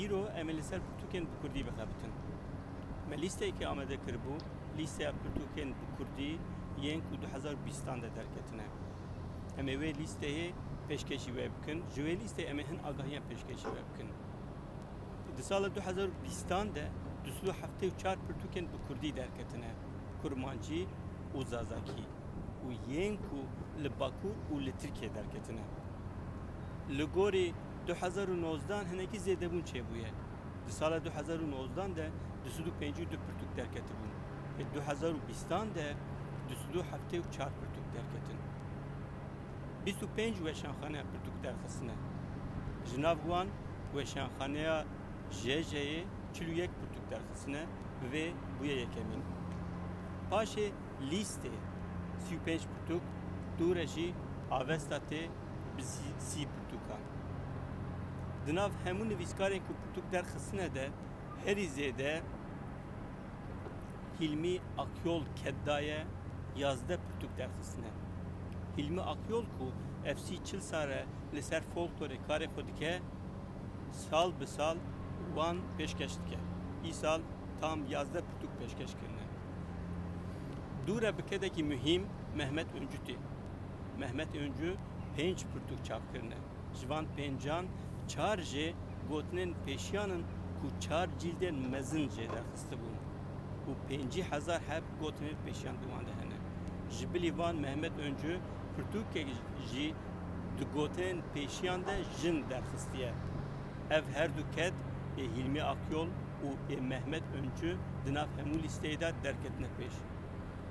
Îro em ê li ser pirtûkên bi kurdî bixebitin. Me lîsteyekê amade kiribû, lîsteya pirtûkên bi kurdî yên ku du hezar û bîstan de derketine. Em ê wê lîsteyê pêşkêşî wê bikin. Ji wê lîsteyê em ê hin agahiyan pêşkêşî wê bikin. Di sala du hezar û bîstan de du sed û heftê û çar pirtûkên bi kurdî derketine, kurmancî û zazakî û yên ku li Bakur û li Tirkiyeyê derketine. Li gorî. du hezar û nozdan hinekî zêdebûn çêbûye. Di sala du hezar û nozdan de du sed û pêncî û du pirtûk derketibûn ê du hezar û bîstan de du sed û heftê û çar pirtûk derketin. Bîst û pênc weşanxane pirtûk derxistine. Ji nav wan weşanxaneya JJ'ê çil û yek pirtûk derxistine bi vê bûye yekemîn. Paşê Lîstê sî û pênc pirtûk, Tûre jî avesta tê bi sî pirtûkan. Di nav hemû nivîskarên ku pirtûk derxistine de herî zêde Hîlmî Akyol Kedda ye, yazdeh pirtûk derxistine. Hîlmî Akyol ku ev sî çil sal e li ser folklorê karê xwe dike, sal bi sal wan pêşkeş dike. Îsal tam yazdeh pirtûk pêşkeş kirine. Dûre bi kedekî muhîm Mehmet Uncutê. Mehmet Öncu pênc pirtûk çap kirine. Ji van pêncan çar jê gotinên pêşiyan in ku çar cîldên mezin jê derxistibûn û pêncî hezar heb gotinên pêşiyan di wan de hene. Ji bilî van Mehmet Öncu pirtûkek jî di gotinên pêşiyan de jin derxistiye. Ev her du ket ê Hîlmî Akyol û ê Mehmet Öncu di nav hemû lîsteyê de derketine pêş.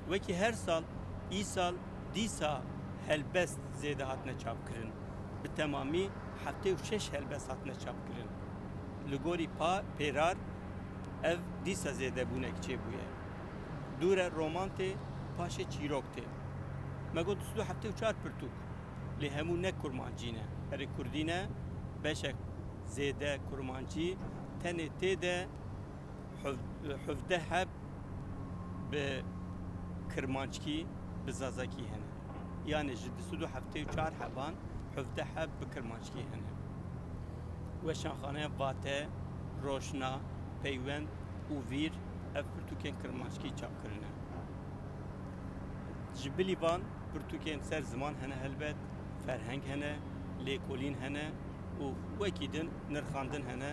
Wekî her sal, îsal, Dîsa helbest zêde hatine çapkirin. Bi temamî heftê û şeş helbest hatine çapkirin. Li gorî Pêrar ev dîsa zêde bûnek çêbûye. Dûre roman tê paşê çîrok tê. Me got sî du heftê û çar pirtûk lê hemû ne kurmancî ne. Erê kurdî ne beşek zêde kurmancî tenê tê de. Hevdeh heb bi kirmanckî, bi zazakî hene. Yanê ji du sed û heftê û çar heban hevdeh heb bi kirmanckî hene. Weşanxaneya Vate, Roşna, Peywend û Vîr ev pirtûkên kirmanckî çap kirine. Ji bilî van pirtûkên ser ziman hene helbet, ferheng hene, lêkolîn hene û wekî din nirxandin hene.